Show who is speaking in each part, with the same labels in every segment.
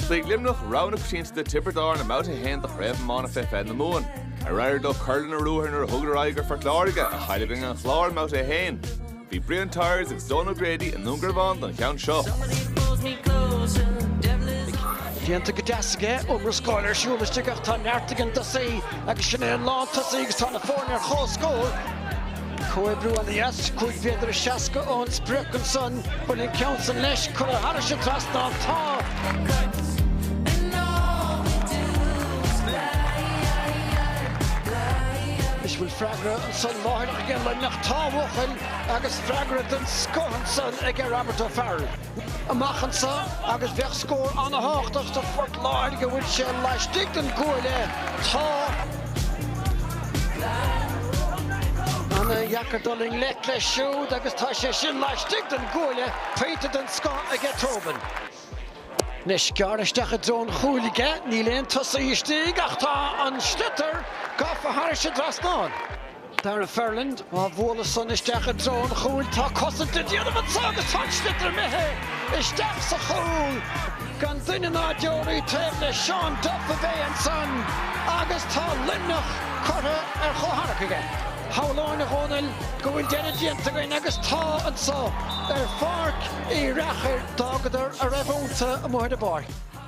Speaker 1: Ghéill Luimneach, rogha na coitianta do Tiobraid Árann i mBabhta 1 de Chraobh Iomána Fé Fiche na Mumhan. Ar éirigh leo cur lena ruathar nuair a thugadar aghaidh ar Phort Láirge, a chaill i gcoinne an Chláir i mBabhta 1? Bhí Brian Tyers agus Donal O'Grady i nDún Garbhán don cheann seo. Déanta go deas aige, iomrascáil ar siúl istigh ach tá neart ag an dtosaí agus sin é an lántosaí agus tá na foirne ar comhscór. Comhoibriú an-dheas, 5 mhéadar is seasca ón sprioc, ansan an bhfuil an ceann san leis curtha thairis an trasnán. Tá. 'S an bhfuil freagra ansan láithreach ag an Luimneach. Tá ambaiste agus freagra den scoth ansan ag Robert O'Farrell. amach anso agus bheadh scór an-tábhachtach do Phort Láirge an bhfuil sé laistigh den gcuaille. Tá. an-deacair dul i ngleic leis siúd agus tá sé sin laistigh den gcuaille, pointe den scoth aige Tobin. Anois gearrtha isteach i dtreo an chúil aige, níl aon tosaí istigh ach tá an sliotar gafa thairis an dtrasnán. Darragh Ferland, Á bhualadh san isteach i dtreo an chúil tá cosaint le déanamh anso agus tá an sliotar imithe isteach sa chúl gan duine ná deoraí taobh le Seán Duff a bhí ansan agus tá Luimneach curtha ar chomhscór aige. Shamhlóinn, a Dhónaill, go bhfuil deireadh déanta againn agus tá anso ar Pháirc Uí Fhearchair d'fhágadar a raibh ionnta amuigh ar an bpáirc.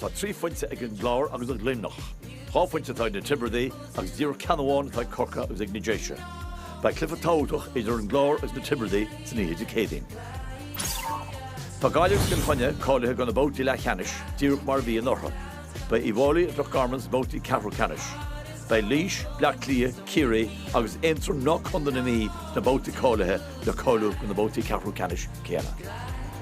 Speaker 1: Tá trí phointe ag an gClár agus ag Luimneach, dhá phointe atá ag na Tiobradaigh agus díreach ceann amháin atá ag Corcaigh agus ag na Déise. Beidh cluiche tábhachtach idir an gClár agus na Tiobradaigh ansan oíche Dé Céadaoin. Tá Gaillimh is Cill Chainnigh cáilithe do na babhtaí leathcheannais díreach mar a bhí i ndán dóibh. Beidh Uíbh Fháilí agus Loch Garman sna babhtaí ceathrú ceannais. Beidh Laois, Bleá Cliath, Ciarraí agus Aontroim nó Contae na Mí sna babhtaí cáilithe le cáiliú do na babhtaí ceathrú ceannais céanna.